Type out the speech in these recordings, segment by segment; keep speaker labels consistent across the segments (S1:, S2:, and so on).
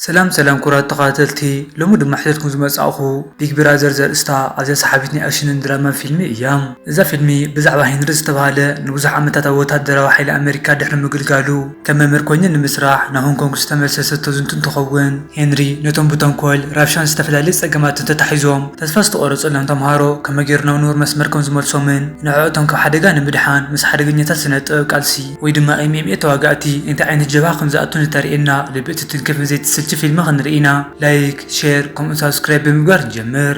S1: ሰላም ሰላም ኩቡራት ተከታተልቲ ሎሚ ድማ ሒዘትኩም ዝመጻእኩ ቢግ ብራዘር ዘርእስታ ኣዝያ ሰሓቢት ናይ ኣክሽንን ድራማን ፊልሚ እያ እዛ ፊልሚ ብዛዕባ ሄንሪ ዝተባህለ ንብዙሕ ዓመታት ኣብ ወተሃደራዊ ሓይሊ ኣመሪካ ድሕሪ ምግልጋሉ ከም መምህር ኮይኑ ንምስራሕ ናብ ሆንኮንግ ዝተመልሰ ዝተዝንቱ እንትኸውን ሄንሪ ነቶም ብተንኮል ራብሻን ዝተፈላለየ ጸገማትን ተታሒዞም ተስፋ ዝተቆረጸሎም ተምሃሮ ከመይ ጌሩ ናብ ንቡር መስመር ከም ዝመልሶምን ንዕዖቶም ካብ ሓደጋ ንምድሓን ምስ ሓደገኛታት ስነ ጥበብ ቃልሲ ወይ ድማ MMA ተዋጋእቲ እንታይ ዓይነት ጀብሃ ከም ዝኣቱ ንተርእየና ልቢ እትትንክፍን ዘይትስልቺ ፊልሚ ክንርኢ ኢና ላይክ ሼር ከምኡ ሳብስክራይብ ብምግባር ንጀምር።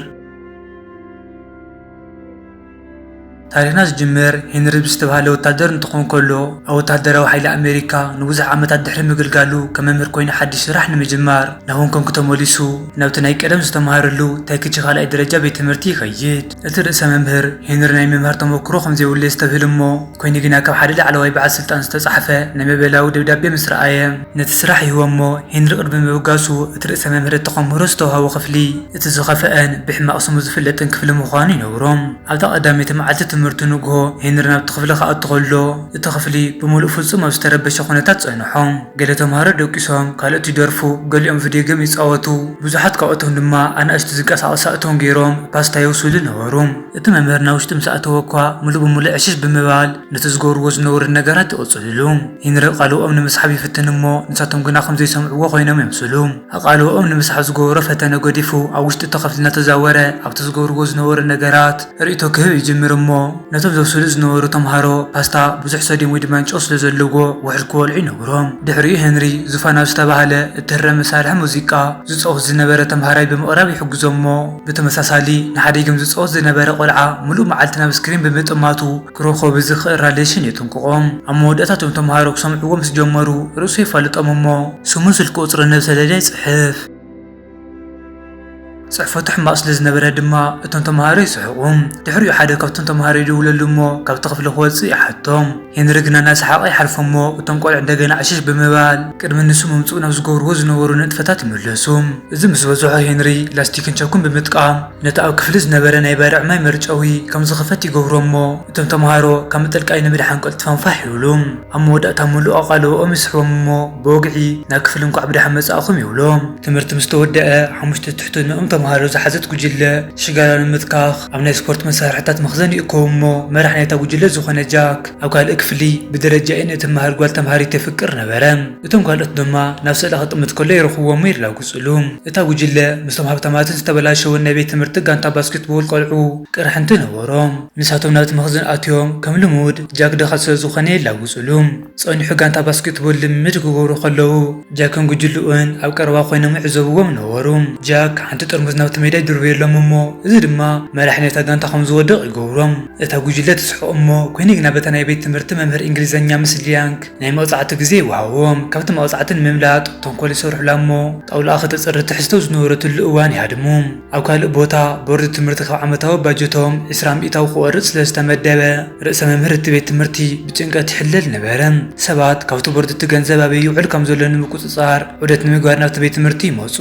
S1: ታሪኽና ዝጅምር ሄንሪ ብዝተባህለ ወታደር እንትኾን ከሎ ኣብ ወታደራዊ ሓይሊ ኣሜሪካ ንብዙሕ ዓመታት ድሕሪ ምግልጋሉ ከም መምህር ኮይኑ ሓድሽ ስራሕ ንምጅማር ናብ ሆንኮንግ ተመሊሱ ናብቲ ናይ ቀደም ዝተምሃረሉ ታይክቺ ካልኣይ ደረጃ ቤት ትምህርቲ ይኸይድ። እቲ ርእሰ መምህር፣ ሄንሪ ናይ ምምሃር ተመኩሮ ከም ዘይብሉ የስተብህል እሞ፣ ኰይኑ ግና ካብ ሓደ ላዕለዋይ በዓል ስልጣን ዝተጻሕፈ ናይ መበላዊ ደብዳቤ ምስ ረኣየ፣ ነቲ ስራሕ ይህቦ እሞ፣ ሄንሪ ቅድሚ ምብጋሱ፣ እቲ ርእሰ መምህር እቲ ከምህሮ ዝተዋህቦ ክፍሊ፣ እቲ ዝኸፍኣን ብሕማቕ ስሙ ዝፍለጥን ክፍሊ ምዃኑ ይነግሮ። ኣብታ ቀዳመይቲ መዓልቲ ትምህርቱ ንግሆ ሄንሪ ናብቲ ክፍሊ ክኣቱ ከሎ፣ እቲ ክፍሊ ብምሉእ ፍጹም ኣብ ዝተረበሸ ኵነታት ጸንሖ። ገለ ተምሃሮ ደቂሶም፣ ካልኦት ይደርፉ፣ ገሊኦም ቪድዮ ጌም ይጻወቱ፣ ብዙሓት ካብኣቶም ድማ ኣናእሽቱ ዝንቀሳቐሱ ሳእቶም ገይሮም ፓስታ የብስሉ ነበሩ። እቲ መምህር ናብ ውሽጢ ምስ ኣእተወ'ኳ ምሉእ ብምሉእ ዕሽሽ ብምባል ነቲ ዝገብርዎ ዝነበሩ ነገራት ይቕጽልሉ። ሄንሪ ቓልብኦም ንምስሓብ ይፍትን እሞ ንሳቶም ግና ከም ዘይሰምዕዎ ዀይኖም የምስሉ። ኣቓልቦኦም ንምስሓብ ዝገበሮ ፈተነ ገዲፉ ኣብ ውሽጢ እታ ክፍሊ እናተዛወረ ኣብቲ ዝገብርዎ ዝነበሩ ነገራት ርእይቶ ክህብ ይጅምር እሞ ነቶም ዘብስሉ ዝነበሩ ተምሃሮ ፓስታ ብዙሕ ሶድየም ወይ ድማ ጨው ስለ ዘለዎ ውሑድ ክበልዑ ይነግሮም። ድሕሪኡ ሄንሪ ዙፋን ኣብ ዝተባህለ እትህረም መሳርሒ ሙዚቃ ዝጻወት ዝነበረ ተምሃራይ ብምቕራብ ይሕግዞ እሞ ብተመሳሳሊ ንሓዲግም ዝጻወት ዝነበረ ቆልዓ ምሉእ መዓልቲ ናብ ስክሪን ብምጥማቱ ክረኸቡ ዝኽእል ራድየሽን የጥንቅቖም። ኣብ መወዳእታ እቶም ተመሃሮ ክሰምዕዎ ምስ ጀመሩ ርእሱ የፋልጦም እሞ ስሙን ስልኪ ቁጽሩን ነብ ሰሌዳ ይጽሕፍ። ጽሕፈቱ ሕማቕ ስለ ዝነበረ ድማ እቶም ተመሃሮ ይስሕቑ። ድሕሪኡ ሓደ ካብቶም ተመሃሮ ይድውለሉ እሞ ካብቲ ክፍሊ ክወጽእ ይሓቶም። ሄንሪ ግና እናሰሓቐ ይሓልፎ እሞ እቶም ቆልዑ እንደገና ዕሽሽ ብምባል ቅድሚ ንሱ ምምጽኡ ናብ ዝገብርዎ ዝነበሩ ንጥፈታት ይምለሱ። እዚ ምስ በዝሖ ሄንሪ ላስቲክን ቸኩን ብምጥቃም ነቲ ኣብ ክፍሊ ዝነበረ ናይ ባርዕ ማይ መርጨዊ ከም ዝኽፈት ይገብሮ እሞ እቶም ተመሃሮ ካብ ምጥልቃይ ንምድሓን ቀልጢፎም ፋሕ ይብሉ። ኣብ መወዳእታ ምሉእ ኣቓልቦኦም ይስሕቦም እሞ ብወግዒ ናብ ክፍሊ እንቋዕ ብደሓን መጻእኩም ይብሎም። ትምህርቲ ምስ ተወደኣ ሓሙሽተ ትሕትኖኦም ተመሃሮ ዝሓዘት ጉጅለ ሽጋራ ንምትካኽ ኣብ ናይ ስፖርት መሳርሒታት መኽዘን ይእከቡ እሞ መራሕ ናይታ ጉጅለ ዝኾነ ጃክ ኣብ ካልእ ክፍሊ ብደረጃ ኤን እትመሃር ጓል ተመሃሪት የፍቅር ነበረ። እቶም ካልኦት ድማ ናብ ስእላ ክጥምት ከሎ ይረኽብዎ እሞ ይላግጽሉ። እታ ጉጅለ ምስቶም ሃብታማትን ዝተበላሸወን ናይ ቤት ትምህርቲ ጋንታ ባስኬትቦል ቆልዑ ቅርሕንቲ ነበሮም። ንሳቶም ናብቲ መኽዝን ኣትዮም ከም ልሙድ ጃክ ድኻ ስለ ዝኾነ የላግጽሉ። ጸኒሑ ጋንታ ባስኬትቦል ልምምድ ክገብሩ ከለዉ ጃክን ጉጅልኡን ኣብ ቀረባ ኮይኖም ይዕዘብዎም ነበሩ። ጃክ ሓንቲ ጥርሙዝ ናብቲ ሜዳ ይድርብየሎም እሞ እዚ ድማ መራሒ ናይታ ጋንታ ከም ዝወድቕ ይገብሮም። እታ ጉጅለ ትስሕቕ እሞ ኮይኒ ግና በታ ናይ ቤት ትምህርቲ መምህር እንግሊዘኛ ምስ ሊያንግ ናይ መቕጻዕቲ ግዜ ይወሃቦም። ካብቲ መቕጻዕቲ ንምምላጥ ተንኮል ይሰርሑላ እሞ ጣውላኣ ከተጽሪ ትሕዝቶ ዝነበረትሉ እዋን ይሃድሙ። ኣብ ካልእ ቦታ ቦርድ ትምህርቲ ካብ ዓመታዊ ባጀቶም ዕስራ ሚእታዊ ክቖርጽ ስለ ዝተመደበ ርእሰ መምህር እቲ ቤት ትምህርቲ ብጭንቀት ይሕለል ነበረ። ሰባት ካብቲ ቦርድ እቲ ገንዘብ ኣበይ ይውዕል ከም ዘሎ ንምቁጽጻር ዑደት ንምግባር ናብቲ ቤት ትምህርቲ ይመጹ።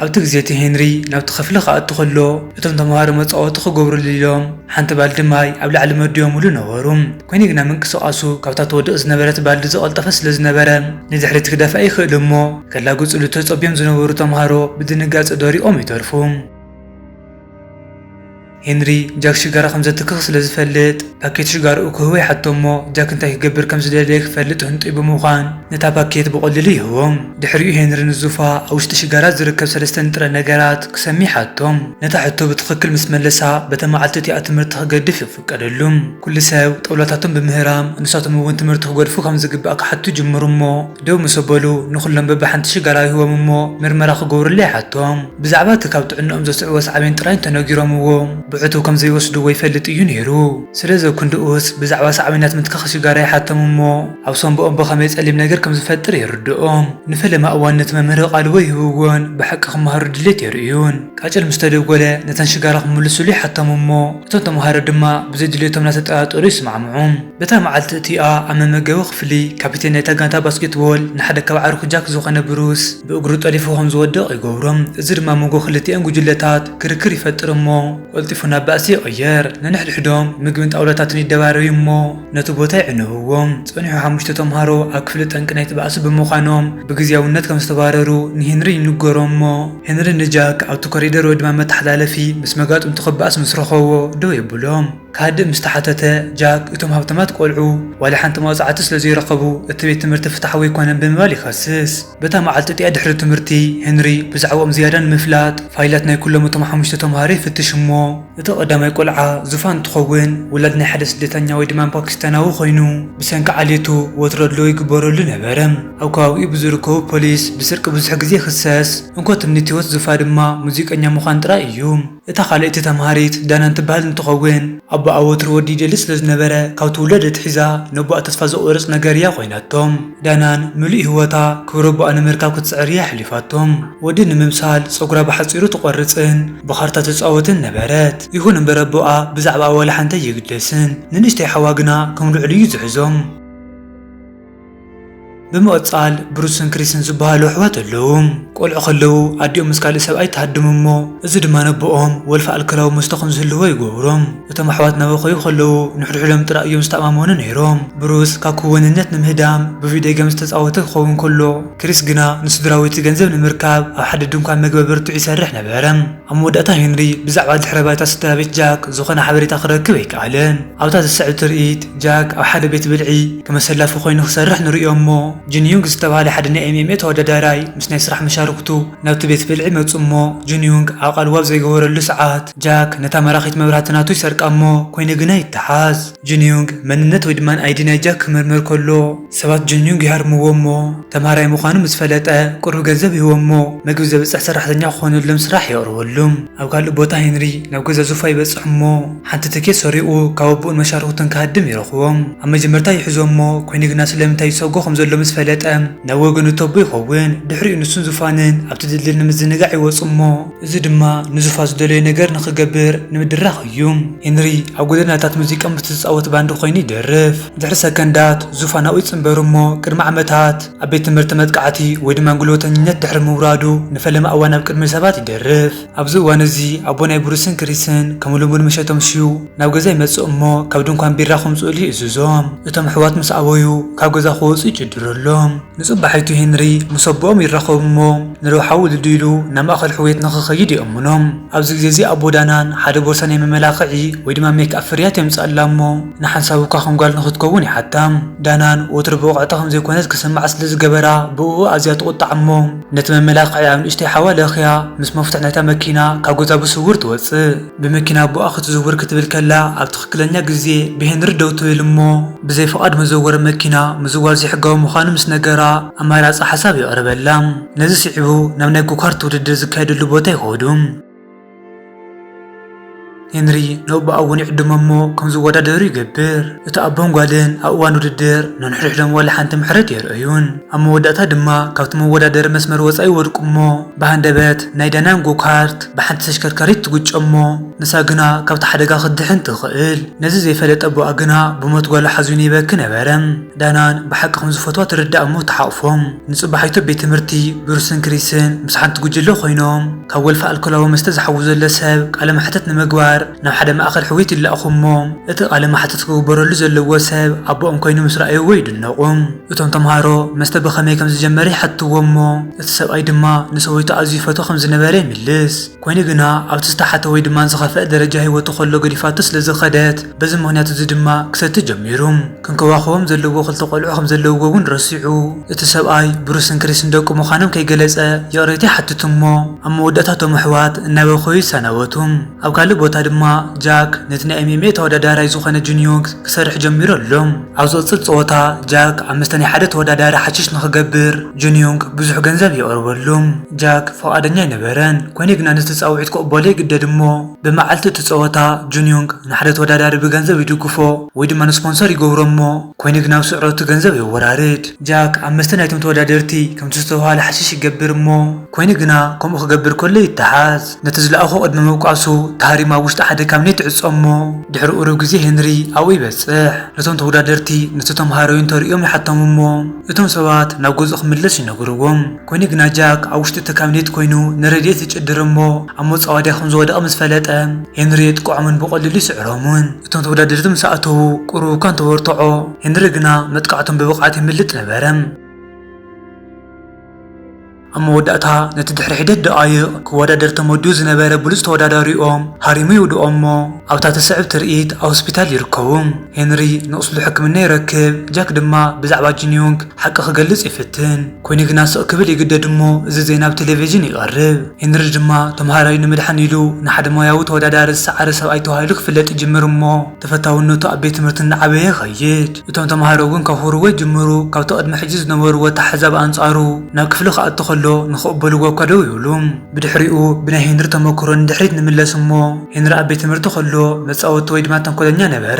S1: ኣብቲ ግዜ እቲ ሄንሪ ናብቲ ክፍሊ ክኣቱ ከሎ እቶም ተመሃሮ መጻወቲ ክገብሩሉ ኢሎም ሓንቲ ባልዲ ማይ ኣብ ላዕሊ መዲቦምሉ ነበሩ። ኰይኑ ግና ምንቅስቓሱ ካብታ ትወድቕ ዝነበረት ባልዲ ዝቐልጠፈ ስለ ዝነበረ፣ ንድሕሪት ክደፍእ ኣይክእል'ሞ፣ ከላግጹሉ ተጸብዮም ዝነበሩ ተማሃሮ ብድንጋጸ ደሪቖም ይተርፉ። ሄንሪ ጃክ ሽጋራ ከም ዘትክኽ ስለ ዝፈልጥ፣ ፓኬት ሽጋራኡ ክህቦ ይሓትቶ'ሞ፣ ጃክ እንታይ ክገብር ከም ዝደለየ ክፈልጥ ህንጡይ ብምዃን ነታ ፓኬት ብቐሊሉ ይህቦ። ድሕሪኡ ሄንሪ ንዙፋ ኣብ ውሽጢ ሽጋራ ዝርከብ ሰለስተ ንጥረ ነገራት ክሰሚ ይሓቶ። ነታ ሕቶ ብትኽክል ምስ መለሳ፣ በታ መዓልቲ እቲኣ ትምህርቲ ክገድፍ ይፍትን። ፍቀደሉ። ኩሉ ሰብ ጦብላታቶም ብምህራም ንሳቶም እውን ትምህርቲ ክገድፉ ከም ዝግባእ ክሓቱ ጅምሩ እሞ ደው ምስ ኣበሉ ንኹሎም በብሓንቲ ሽጋራ ይህቦም እሞ ምርመራ ክገብሩሉ ይሓቶም። ብዛዕባ እቲ ካብ ጥዕንኦም ዘስዕቦ ሳዕቤን ጥራይ እንተነጊሮምዎ ብዕቱብ ከም ዘይወስድዎ ይፈልጥ እዩ ነይሩ። ስለዚ ኣብ ክንድኡስ ብዛዕባ ሳዕቤናት ምትካኽ ሽጋራ ይሓቶም እሞ ኣብ ሳንቡኦም ብኸመይ ጸሊም ነገር ከም ዝፈጥር የርድኦም። ንፈለማ እዋን ነቲ መምህር ኣቓልቦ ይህብዎን ብሓቂ ክመሃሩ ድሌት የርእዩን። ቃጭል ምስ ተደጎለ ነተን ሽጋራ ክምልሱሉ ይሓቶም እሞ እቶም ተመሃሮ ድማ ብዘይ ድሌቶም እናተጠራጠሩ ይስማዕምዑ። በታ መዓልቲ እቲኣ ኣብ መመገቢ ክፍሊ፣ ካፒቴን ናይታ ጋንታ ባስኬትቦል ንሓደ ካብ ኣዕሩኽ ጃክ ዝዀነ ብሩስ ብእግሩ ጠሊፉ ከም ዝወድቕ ይገብሮ። እዚ ድማ ኣብ መንጎ ክልቲኣን ጕጅለታት ክርክር ይፈጥር እሞ ቀልጢፉ ናብ ባእሲ ይቕየር። ነንሕድሕዶም ምግብን ጣውላታትን ይደራረዩ እሞ ነቲ ቦታ ይዕንብዎ። ጸኒሑ ሓሙሽተ ተመሃሮ ኣብ ክፍሊ ጠንቂ ናይቲ ባእሲ ብምዃኖም ብግዝያውነት ከም ዝተባረሩ ንሄንሪ ይንገሮ እሞ፣ ሄንሪ ንጃክ ኣብቲ ኮሪደር ወይ ድማ መተሓላለፊ ምስ መጋጥምቱ ክበኣስ ምስ ረኸቦ ደው የብሎም። ክሃድእ ምስ ተሓተተ፣ ጃክ እቶም ሃብታማት ቆልዑ ዋላ ሓንቲ መቕጻዕቲ ስለ ዘይረኸቡ እቲ ቤት ትምህርቲ ፍትሓዊ ኣይኮነን ብምባል ይኸስስ። በታ መዓልቲ እቲኣ ድሕሪ ትምህርቲ፣ ሄንሪ ብዛዕብኦም ዝያዳ ንምፍላጥ ፋይላት ናይ ኩሎም እቶም ሓሙሽተ ተመሃሮ ይፍትሽ እሞ፣ እቲ ቀዳማይ ቆልዓ ዙፋን እንትኸውን ወላዲ ናይ ሓደ ስደተኛ ወይ ድማ ፓኪስታናዊ ኮይኑ ብሰንኪ ዓሌቱ ወትሩ ኣድልዎ ይግበረሉ ነበረ። ኣብ ከባቢኡ ብዝርከቡ ፖሊስ ብስርቂ ብዙሕ ግዜ ይኽሰስ። እንኮ ትምኒት ህይወት ዙፋ ድማ ሙዚቀኛ ምዃን ጥራይ እዩ። እታ ካልኣይቲ ተምሃሪት ዳናን ትበሃል እንትኸውን ኣቦኣ ወትሩ ወዲ ይደሊ ስለዝነበረ ካብቲ ውላድ ኣትሒዛ ነቦኣ ተስፋ ዘቑርፅ ነገር እያ ኮይናቶ። ዳናን ምሉእ ህይወታ ክብረቦኣ ንምርካብ ክትጽዕር እያ ኣሕሊፋቶ። ወዲ ንምምሳል ጸጉራ ብሓጺሩ ትቖርጽን ብኻርታ ትጻወትን ነበረት። ይኹን እምበር ኣቦኣ ብዛዕባኣ ዋላ ሓንቲ ኣይግደስን። ንንእሽተይ ሓዋ ግና ከም ልዑል እዩ ዝሕዞ። ብምቕጻል ብሩስን ክሪስን ዝበሃሉ ኣሕዋት ኣለዉ። ቆልዑ ከለዉ ኣዲኦም ምስ ካልእ ሰብኣይ ትሃድም እሞ እዚ ድማ ነቦኦም ወልፊ ኣልኮላዊ መስተ ከም ዝህልዎ ይገብሮ። እቶም ኣሕዋት እናበኸዩ ከለዉ ንሕድሕዶም ጥራይ እዮም ዝተኣማመኑ ነይሮም። ብሩስ ካብ ክወንነት ንምህዳም ብቪድዮ ገም ዝተጻወተ ክኸውን ከሎ፣ ክሪስ ግና ንስድራቤቱ ገንዘብ ንምርካብ ኣብ ሓደ ድንኳን መግቢ ኣበርቲዑ ይሰርሕ ነበረ። ኣብ መወዳእታ ሄንሪ ብዛዕባ ድሕረ ባይታ ስድራቤት ጃክ ዝዀነ ሓበሬታ ክረክብ ኣይከኣለን። ኣብታ ዝስዕብ ትርኢት፣ ጃክ ኣብ ሓደ ቤት ብልዒ ከም ኣሰላፊ ኰይኑ ክሰርሕ ንርእዮ እሞ፣ ጂን ዩንግ ዝተባህለ ሓደ ናይ ኤምኤምኤ ተወዳዳራይ ምስ ናይ ስራሕ መሻርኽቱ ናብቲ ቤት ብልዒ መጹ እሞ፣ ጂን ዩንግ ዓቃሉ ዋብ ዘይገበረሉ ሰዓት፣ ጃክ ነታ መራኺት መብራህቲ ናቱ ይሰርቃ እሞ ኮይኑ ግና ይተሓዝ። ጁንዩንግ መንነት ወይ ድማ ኣይዲ ናይ ጃክ ክምርምር ከሎ ሰባት ጁንዩንግ ይሃርምዎ እሞ ተምሃራይ ምዃኑ ምስ ፈለጠ ቁሩብ ገንዘብ ይህቦም እሞ መግቢ ዘብጽሕ ሰራሕተኛ ክኾነሎም ስራሕ የቕርበሉም። ኣብ ካልእ ቦታ ሄንሪ ናብ ገዛ ዙፋ ይበጽሕ እሞ ሓንቲ ትኬት ሰሪቑ ካብ ኣቡኡን መሻርኹቱን ክሃድም ይረኽቦም። ኣብ መጀመርታ ይሕዞ እሞ ኮይኑ ግና ስለምንታይ ይሰጎ ከም ዘሎ ምስ ፈለጠ ናብ ወገኑ እተቦ ይኸውን። ድሕሪኡ ንሱን ዙፋንን ኣብቲ ድልድል ንምዝንጋዕ ይወጹ እሞ፣ እዚ ድማ ንዙፋ ዝደለዮ ነገር ንኽገብር ንምድራኽ እዩ። ሄንሪ ኣብ ጎደናታት ሙዚቃ ምስ ዝጻወት ባንድ ኰይኑ ይደርፍ። ድሕሪ ሰከንዳት፣ ዙፋ ናብኡ ይጽንበሩ እሞ ቅድሚ ዓመታት ኣብ ቤት ትምህርቲ መጥቃዕቲ ወይ ድማ ጉልበተኝነት ድሕሪ ምውራዱ ንፈለማ እዋን ኣብ ቅድሚ ሰባት ይደርፍ። ኣብዚ እዋን እዚ ኣቦ ናይ ብሩስን ክሪስን ከም ልሙድ ምሸት ኣምሽዩ ናብ ገዛ ይመጽእ እሞ ካብ ድንኳን ቢራ ከምጽኡሉ ይእዝዞም። እቶም ኣሕዋት ምስ ኣበዩ ካብ ገዛ ክወጹ ይጭድረሎም። ንጽባሒቱ ሄንሪ ምስ ኣቦኦም ይራኸቡ እሞ ንረብሓ ውሉዱ ኢሉ ናብ ማእከል ሕውየት ንኽኸይድ ይእምኖም። ኣብዚ ግዜ እዚ ኣቦ ዳናን ሓደ ቦርሳ ናይ መመላኽዒ ወይ ድማ ሜክኣፕ ፍርያት የምጽኣላ እሞ ንሓንሳብ እኳ ከም ጓል ንኽትከውን ይሓታም። ዳናን ወትሩ ብቕዕቲ ከም ዘይኮነት ክስምዓ ስለ ዝገበራ ብእኡ ኣዝያ ትቑጣዕ እሞ ነቲ መመላኽዒ ኣብ ንእሽተይ ሓዋ ለኽያ ምስ መፍቱሕ ናይታ መኪና ካብ ገዛ ብስውር ትወጽእ። ብመኪና ኣቦኣ ክትዝውር ክትብል ከላ ኣብ ትኽክለኛ ግዜ ብሄንሪ ደው ትብል እሞ ብዘይ ፍቓድ መዘወሪ መኪና ምዝዋር ዘይሕጋዊ ምዃኑ ምስ ነገራ ኣማራጺ ሓሳብ የቕርበላ። ነዚ ስዒቡ ናብ ናይ ጎካርት ውድድር ዝካየደሉ ቦታ ይኸዱ። ሄንሪ ንኣቦኣ እውን ይዕድሞ እሞ ከም ዝወዳደሩ ይገብር። እቲ ኣቦን ጓልን ኣብ እዋን ውድድር ነንሕድሕዶም ዋላ ሓንቲ ምሕረት ኣየርእዩን። ኣብ መወዳእታ ድማ ካብቲ መወዳደሪ መስመር ወጻኢ ይወድቁ እሞ ብሃንደበት ናይ ዳናን ጎካርት ብሓንቲ ተሽከርካሪት ትግጮ እሞ ንሳ ግና ካብቲ ሓደጋ ክትድሕን ትኽእል። ነዚ ዘይፈለጠ ኣቦኣ ግና ብሞት ጓሉ ሓዚኑ ይበኪ ነበረ። ዳናን ብሓቂ ከም ዝፈትዋ ተረድኣ እሞ ተሓቝፎም ንጽባሒቱ ኣብ ቤት ትምህርቲ ብሩስን ክሪስን ምስ ሓንቲ ጉጅለ ኰይኖም ካብ ወልፊ ኣልኮላዊ መስተ ዝሓዊ ዘሎ ሰብ ቃለ መሕትት ንምግባር ናብ ሓደ ማእከል ሕውየት ይለኣኹ እሞ፣ እቲ ቃለ መሓትት ክግበረሉ ዘለዎ ሰብ ኣቦኦም ኰይኑ ምስ ረኣይዎ ይድነቑ። እቶም ተመሃሮ መስተ ብኸመይ ከም ዝጀመረ ይሓትትዎ እሞ፣ እቲ ሰብኣይ ድማ ንሰበይቱ ኣዝዩ ይፈትዋ ከም ዝነበረ ይምልስ። ኰይኑ ግና ኣብቲ ዝተሓተ ወይ ድማ ዝኸፍኣ ደረጃ ህይወቱ ከሎ ገዲፋቶ ስለ ዝኸደት፣ በዚ ምኽንያት እዚ ድማ ክሰቲ ጀሚሩ። ክንከባኸቦም ዘለዎ ክልተ ቈልዑ ከም ዘለውዎ እውን ረሲዑ፣ እቲ ሰብኣይ ብሩስን ክሪስን ደቁ ምዃኖም ከይገለጸ ይቕሬታ ይሓትት እሞ፣ ኣብ መወዳእታ እቶም ኣሕዋት እናበከዩ ይሰናበቱ። ኣብ ካልእ ቦታ ድማ ጃክ ነቲ ናይ MMA ተወዳዳራይ ዝኾነ ጁን ዮንግ ክሰርሕ ጀሚሩ ኣሎ። ኣብ ዝቕጽል ጸወታ ጃክ ኣብ መስተ ናይ ሓደ ተወዳዳሪ ሓሽሽ ንኽገብር ጁን ዮንግ ብዙሕ ገንዘብ የቕርበሉ። ጃክ ፍቓደኛ ኣይነበረን፣ ኮይኑ ግና ነቲ ጻውዒት ክቕበሎ ይግደድ እሞ ብመዓልቲ እቲ ጸወታ ጁን ዮንግ ንሓደ ተወዳዳሪ ብገንዘብ ይድግፎ ወይ ድማ ንስፖንሰር ይገብሮ እሞ ኮይኑ ግና ኣብ ስዕረቱ እቲ ገንዘብ የወራርድ። ጃክ ኣብ መስተ ናይቶም ተወዳደርቲ ከምቲ ዝተባህሎ ሓሽሽ ይገብር እሞ ኮይኑ ግና ከምኡ ክገብር ከሎ ይተሓዝ። ነቲ ዝለኣኾ ቅድሚ ምውቃሱ፣ ታሪም ኣብ ውሽጢ ሓደ ካብኔት ይዕጾ እሞ፣ ድሕሪ ቁሩብ ግዜ ሄንሪ ኣብኡ ይበጽሕ። ነቶም ተወዳደርቲ ነቲ ተመሃራዩ እንተርእዮም ይሓቶም እሞ፣ እቶም ሰባት ናብ ገዝኡ ክምለስ ይነግርዎም። ኮይኑ ግና ጃክ ኣብ ውሽጢ እቲ ካብኔት ኮይኑ ንረድኤት ይጭድር እሞ፣ ኣብ መጻወድያ ከም ዝወደቐ ምስ ፈለጠ፣ ሄንሪ የጥቅዖምን ብቐሊሉ ይስዕሮምን። እቶም ተወዳደርቲ ምስ ኣተዉ ቁሩብ እኳ እንተበርትዖ፣ ሄንሪ ግና መጥቃዕቶም ብብቕዓት የምልጥ ነበረ። ኣብ መወዳእታ ነቲ ድሕሪ ሒደት ደቓይቕ ክወዳደር ተመዲቡ ዝነበረ ብሉጽ ተወዳዳሪኦም ሃሪሙ ይውድኦ'ሞ ኣብታ ትስዕብ ትርኢት ኣብ ሆስፒታል ይርከቡ። ሄንሪ ንቑስሉ ሕክምና ይረክብ፣ ጃክ ድማ ብዛዕባ ጂንዮንግ ሓቂ ክገልጽ ይፍትን። ኮይኑ ግና ስቕ ክብል ይግደድ'ሞ እዚ ዜና ኣብ ቴሌቪዥን ይቐርብ። ሄንሪ ድማ ተመሃራዩ ንምድሓን ኢሉ ንሓደ ሞያዊ ተወዳዳሪ ዝሰዓረ ሰብኣይ ተባሂሉ ክፍለጥ ይጅምር'ሞ፣ ተፈታውነቱ ኣብ ቤት ትምህርቲ እናዓበየ ይኸይድ። እቶም ተማሃሮ እውን ከኹርዎ ይጅምሩ። ካብቲ ቅድሚ ሕጂ ዝነበርዎ ኣተሓሕዛ ብኣንጻሩ፣ ናብ ክፍሊ ክኣቱ ከሎ ንኽቕበልዎ እኳ ደው ይብሉ። ብድሕሪኡ ብናይ ሄንሪ ተመክሮ ንድሕሪት ንምለስ እሞ፣ ሄንሪ ኣብ ቤት ትምህርቲ ከሎ መጻወቲ ወይ ድማ ተንኮለኛ ነበረ።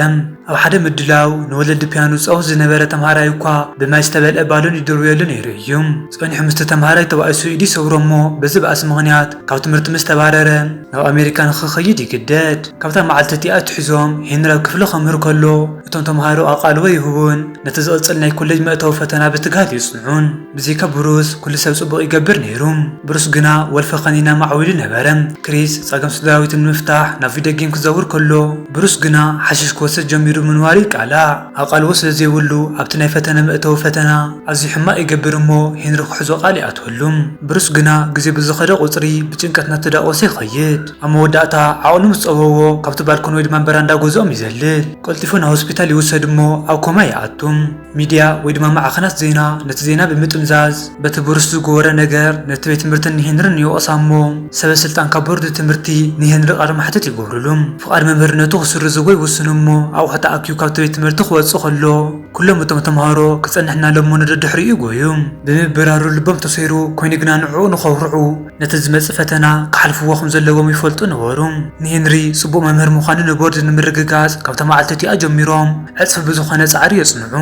S1: ኣብ ሓደ ምድላው ንወለዲ ፒያኖ ዝጻወት ዝነበረ ተማሃራይ እኳ ብማይ ዝተመልአ ባሎን ይድርብየሉ ነይሩ እዩ። ጸኒሑ ምስቲ ተማሃራይ ተባኢሱ ኢዱ ይሰብሮ እሞ በዚ ባእሲ ምኽንያት ካብ ትምህርቲ ምስ ተባረረ፣ ናብ ኣሜሪካ ንኽኸይድ ይግደድ። ካብታ መዓልቲ እቲኣ ኣትሒዞም ሄንሪ ኣብ ክፍሊ ከምህር ከሎ እቶም ተመሃሮ ኣቓልቦ ይህቡን ነቲ ዝቕጽል ናይ ኮለጅ መእተዊ ፈተና ብትግሃት የጽንዑን። ብዘይካ ብሩስ ኩሉ ሰብ ጽቡቕ ይገብር ነይሩ። ብሩስ ግና ወልፊ ከኒና ማዕዊሉ ነበረ። ክሪስ ጸገም ስድራቤቱ ንምፍታሕ ናብ ቪድዮ ጌም ክዘውር ከሎ ብሩስ ግና ሓሽሽ ክወስድ ጀሚሩ ምንባሩ ይቃላዕ። ኣቓልቦ ስለ ዘይብሉ ኣብቲ ናይ ፈተነ መእተዊ ፈተና ኣዝዩ ሕማቕ ይገብር እሞ ሄንሪ ክሕዞ ቃል ይኣትወሉ። ብሩስ ግና ግዜ ብዝኸደ ቁጽሪ ብጭንቀት እናተዳቖሰ ይኸይድ። ኣብ መወዳእታ ዓቕሉ ምስ ጸበቦ ካብቲ ባልኮን ወይ ድማ በራንዳ ገዝኦም ይዘልል። ቀልጢፉ ናብ ሆስፒታል ይውሰድ እሞ ኣብ ኮማ ይኣቱ። ሚድያ ወይ ድማ ማዕኸናት ዜና ነቲ ዜና ብምጥምዛዝ፣ በቲ ብሩስ ዝጎወረ ነገር ነቲ ቤት ትምህርትን ንሄንርን ይወቕሳ እሞ ሰበ ስልጣን ካብ ቦርድ ትምህርቲ ንሄንሪ ቃለ ማሕተት ይገብርሉ። ፍቓድ መምህርነቱ ክስርዝዎ ይውስኑ እሞ ኣቑሑ ተኣኪቡ ካብቲ ቤት ትምህርቲ ክወጽእ ከሎ ኩሎም እቶም ተማሃሮ ክጸንሕና ለሞ ንደድሕሪኡ ይጎዩ። ብምብራሩ ልቦም ተሰይሩ ኮይኑ ግና ንዕኡ ንኸኹርዑ ነቲ ዝመጽእ ፈተና ክሓልፍዎ ከም ዘለዎም ይፈልጡ ነበሩ። ንሄንሪ ጽቡቕ መምህር ምዃኑ ንቦርድ ንምርግጋጽ ካብታ መዓልቲ እቲኣ ጀሚሮም ዕጽፊ ብዝኾነ ጻዕሪ የጽንዑ።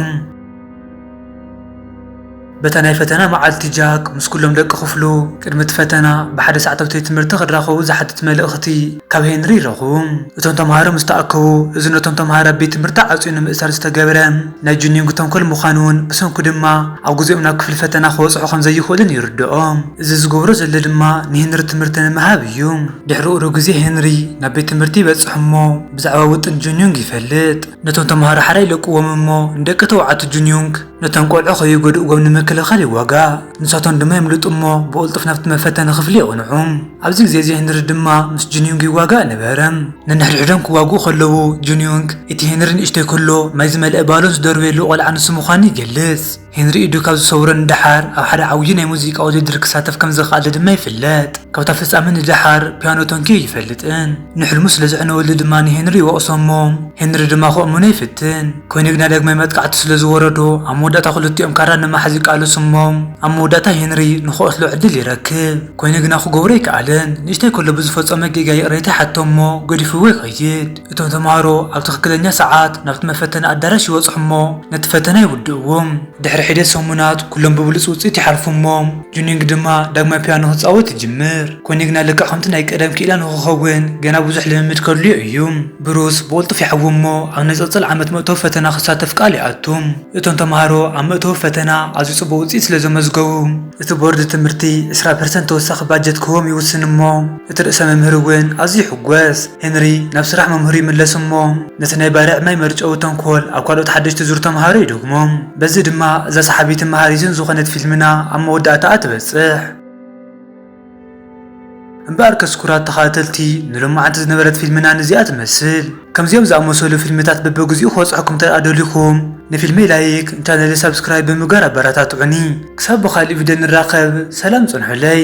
S1: በታ ናይ ፈተና መዓልቲ ጃክ ምስ ኩሎም ደቂ ክፍሉ ቅድሚ እቲ ፈተና ብሓደ ሰዓት ኣብቲ ቤት ትምህርቲ ክራኸቡ ዝሓትት መልእኽቲ ካብ ሄንሪ ይረኽቡ። እቶም ተማሃሮ ምስ ተኣከቡ፣ እዚ ነቶም ተማሃሮ ኣብ ቤት ትምህርቲ ዓጽዩ ንምእሳር ዝተገብረ ናይ ጁንዩንግ ተንኮል ምዃኑን ብሰንኩ ድማ ኣብ ግዜኦም ናብ ክፍሊ ፈተና ክበጽሑ ከም ዘይኽእሉን ይርድኦ። እዚ ዝገብሮ ዘሎ ድማ ንሄንሪ ትምህርቲ ንምሃብ እዩ። ድሕሪ ቁሩብ ግዜ ሄንሪ ናብ ቤት ትምህርቲ ይበጽሕ እሞ ብዛዕባ ውጥን ጁንዩንግ ይፈልጥ። ነቶም ተመሃሮ ሓራይ ይለቅዎም እሞ ንደቂ ተባዕቱ ጁንዩንግ ነቶም ቆልዑ ከዩጎድእዎም ንምክልኻል ይዋጋእ። ንሳቶም ድማ የምልጡ እሞ ብቕልጡፍ ናብቲ መፈተኒ ክፍሊ የቕንዑ። ኣብዚ ግዜ እዚ ሄንሪ ድማ ምስ ጁንዩንግ ይዋጋእ ነበረ። ነንሕድሕዶም ክዋግኡ ከለዉ ጁንዩንግ እቲ ሄንሪ ንእሽቶይ ከሎ ማይ ዝመልኣ ባሎን ዝደርበየሉ ቆልዓ ንሱ ምዃኑ ይገልጽ። ሄንሪ ኢዱ ካብ ዝሰውረ ንደሓር ኣብ ሓደ ዓብዪ ናይ ሙዚቃ ውድድር ክሳተፍ ከም ዝኸኣለ ድማ ይፍለጥ። ካብታ ፍጻመ ንደሓር ፒያኖ ተንኪዩ ኣይፈልጥን። ንሕልሙ ስለ ዘዕነወሉ ድማ ንሄንሪ ይወቕሶ እሞ ሄንሪ ድማ ክእምኖ ይፍትን። ኮይኑ ግና ዳግማይ መጥቃዕቲ ስለ ዝወረዶ ኣብ መወዳእታ ክልቲኦም ካራ ንምሓዝ ይቃለሱ እሞ ኣብ መወዳእታ ሄንሪ ንኽቐትሎ ዕድል ይረክብ። ኮይኑ ግና ክገብሮ ኣይከኣለን። ንእሽተይ ከሎ ብዝፈጸሞ ጌጋ ይቕሬታ ይሓቶ እሞ ገዲፍዎ ይኸይድ። እቶም ተማሃሮ ኣብ ትኽክለኛ ሰዓት ናብቲ መፈተኒ ኣዳራሽ ይበጽሑ እሞ ነቲ ፈተና ይውድእዎ። ድሕሪ ሒደት ሰሙናት ኩሎም ብብሉጽ ውጽኢት ይሓልፉ እሞ ጁንዮንግ ድማ ዳግማይ ፒያኖ ክጻወት ይጅምር። ኮኒ ግና ልክዕ ከምቲ ናይ ቀደም ክኢላ ንኽኸውን ገና ብዙሕ ልምምድ ከድልዮ እዩ። ብሩስ ብቕልጡፍ ይሓዊ እሞ ኣብ ንጽጽል ዓመት መእተዊ ፈተና ክሳተፍ ቃል ይኣቱ። እቶም ተማሃሮ ኣብ መእተዊ ፈተና ኣዝዩ ጽቡቕ ውጽኢት ስለ ዘመዝገቡ፣ እቲ ቦርድ ትምህርቲ ዕስራ ፐርሰንት ተወሳኺ ባጀት ክህቦም ይውስን እሞ እቲ ርእሰ መምህር እውን ኣዝዩ ይሕጐስ። ሄንሪ ናብ ስራሕ መምህሩ ይምለስ እሞ ነቲ ናይ ባርዕ ማይ መርጨዊ ተንኮል ኣብ ካልኦት ሓደሽቲ ዙር ተምሃሮ ይደግሞ። በዚ ድማ እዛ ሰሓቢትን መሃሪትን ዝኾነት ፊልምና ኣብ መወዳእታኣ ትበጽሕ። እምበኣርከስ ኩራት ተኻታተልቲ ንሎማዓንቲ ዝነበረት ፊልምና ንዚኣ ትመስል። ከምዚኦም ዝኣመሰሉ ፊልምታት በበግዚኡ ክበጽሑኩም እንተድኣ ደሊኹም ንፊልመይ ላይክ ንቻነለይ ሳብስክራይብ ብምግባር ኣበረታትዑኒ። ክሳብ ብኻሊእ ቪድዮ ንራኸብ ሰላም ጽንሑለይ።